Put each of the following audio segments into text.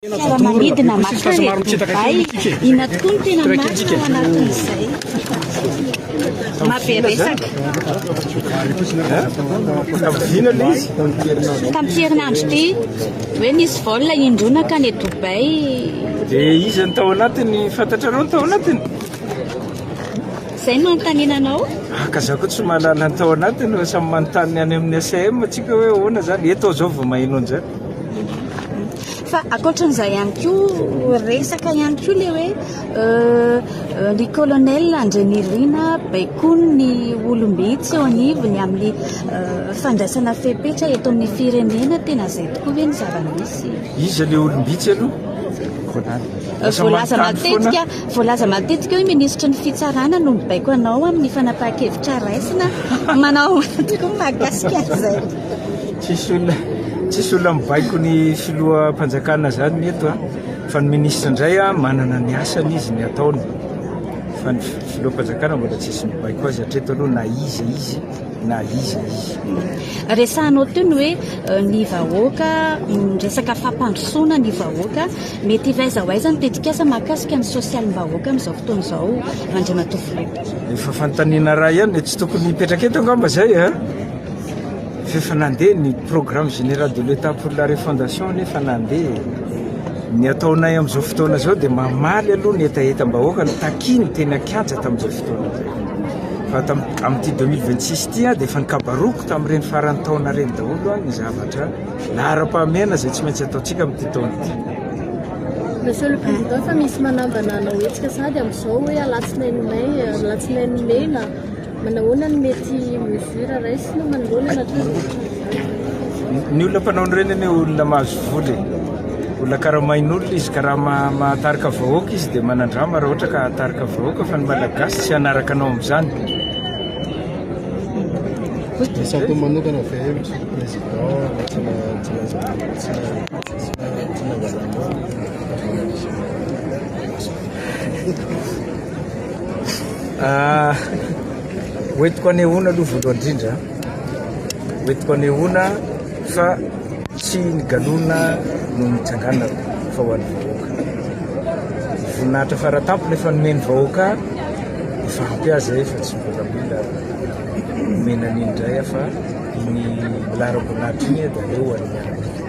Fiaramanidina mankany Dubaï, inona tokoa no tena marina ao anatin'izay? Mabe resaka. Tamin'ity herinandro ity, hoe nisy vol indroa nankany Dubaï. Dia iza no tao anatiny? Fantatrareo ny tao anatiny? Izay no anontaniana anao? Ah, ka za koa tsy mahalala ny tao anatiny, fa samy manontany ny any amin'ny ACM antsika hoe ahoana izany. Eto aho izao vao maheno an'izany. Fa ankoatran'izay ihany koa resaka ihany koa le hoe ny euh, colonel Andrenirina baikony ny olombe tsy eo anivony amin'ny euh, fandraisana fepetra eto amin'ny firenena tena izay tokoa ve ny zava-misy iza le olombitsy aloha Euh, voalaza matetika voalaza matetika hoe minisitry ny fitsarana no mibaiko anao amin'ny fanapahan-kevitra raisina manao tokoa mahakasika zay Tsisy olona tsisy olona mibaiko ny filoham-panjakana zany ny eto a fa ny ministra indray a manana ny asany izy ny ataony fa ny filoham-panjakana mbola tsisy mibaiko azy hatreto aloha na iza izy na iza izy. Resahanao teo ny hoe euh, ny vahoaka mm, resaka fampandrosoana ny vahoaka mety hivaiza ho aiza ny tetikasa mahakasika ny sosialim-bahoaka amin'izao fotoana izao Andriamatoa Filoha. Efa fanontaniana raha ihany tsy tokony hipetraka eto angamba zay a. Eh? F'efa nandeha ny programme général de l'Etat pour la refondation anie efa nandeha e! Ny ataonay amin'izao fotoana izao dia mamaly aloha ny hetahetam-bahoaka notakiany teny an-kianja tamin'izay fotoana izay. Fa amin'ity 2026 ity dia efa nikabaroako tamin'ireny faran'ny taona ireny daholo ny zavatra laharam-pahamehana izay tsy maintsy ataontsika amin'ity taona ity. Monsieur le Président, fa misy manambana hanao hetsika sahady amin'izao hoe alatsinainy may, alatsinainy mena, Manahoana ny mety mesure raisina manoloana ny atody? Ny olona mpanao an'ireny anie olona mahazo vola e. Olona karamain'olona izy ka raha ma- mahatarika vahoaka izy dia manandrama raha ohatra ka hahatarika vahoaka fa ny Malagasy tsy hanaraka anao amin'izany. Ny sampy manokana ve Monsieur le Président tsy na- tsy na- tsy na- tsy na- tsy nangalanao ny fandraisana an'izao? Hoentiko anehoana aloha voalohany indrindra, hoentiko anehoana fa tsy ny galona no nitsanganako fa ho an'ny vahoaka. Voninahitra faratampony efa nomen'ny vahoaka efa ampy azy eh, fa tsy mbola mila omena an'iny indray aho fa ny laharam-boninahitra iny dia aleo ho an'ny miaramila.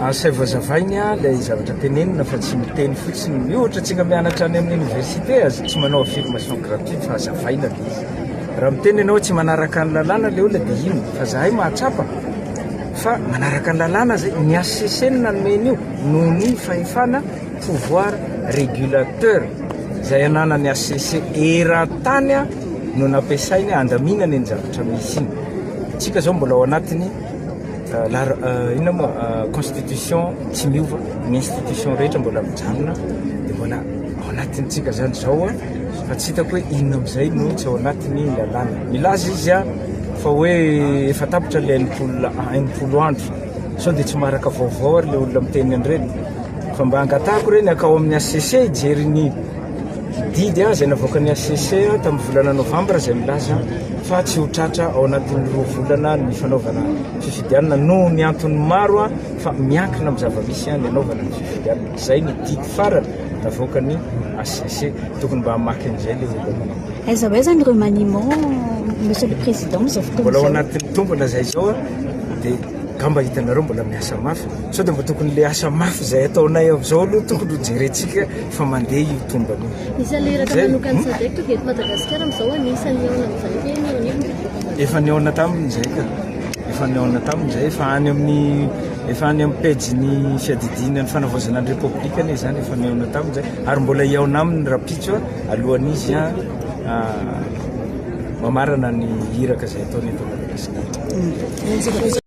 Asaio vazavainy ilay zavatra tenenina fa tsy miteny fotsiny. Io ohatra tsika mianatra any amin'ny université aza tsy manao affirmation gratuite fa azavaina le izy. Raha miteny ianao tsy manaraka ny lalàna le olona dia ino? Fa zahay mahatsapa fa manaraka ny lalàna zay ny HCC no nanome an'io noho ny fahefana pouvoir régulateur zay ananan'ny HCC eran-tany no nampiasainy handaminana iny zavatra misy iny. Tsika zao mbola ao anatiny Lar- ah, inona moa ah, constitution tsy miova ny institution rehetra mbola mijanona dia mbola ao anatintsika zany zao ah, fa tsy hitako hoe inona amizay no tsy ao anatiny lalàna milaza izy ah, fa hoe efa tapitra le enimpolo ah, enimpolo andro sao dia tsy maharaka vaovao ary le olona miteny an'ireny fa mba angatahako ireny akao amin'ny HCC hijery ny Didy izay navoakan'ny hcc tamin'ny volana novambra izay milaza fa tsy ho tratra ao anatin'ny roa volana ny fanaovana fifidianana noho ny antony maro fa miankina amin'ny zava-misy ny hanaovana ny fifidianana. Izay ny didy farany navoakan'ny hcc. Tokony mba hamaky an'izay ilay olona. Aiza ho aiza ny remaniement, Monsieur le Président, amin'izao fotoana izao? Mbola ao anatin'ny tombana izay izao dia angamba hitanareo mbola miasa mafy sao dia mba tokony ilay asa mafy izay ataonay amin'izao aloha tokony hojerentsika Efa mandeha io tombany io. Ny saliraka manokan'ny SADEC tonga eto Madagasikara amin'izao anisan'ny nihaona amin'i Jaika eny eo anivon'ny filohan'ny Efa nihaona tamin'ny Jaika. Efa nihaona tamin'ny Jaika. Efa any amin'ny efa any amin'ny pejin'ny fiadidiana ny fanavaozana ny Repoblika anie izany efa nihaona tamin'ny Jaika. Ary mbola hihaona aminy rapitso alohan'izy ah, mamarana ny iraka izay ataony eto Madagasikara.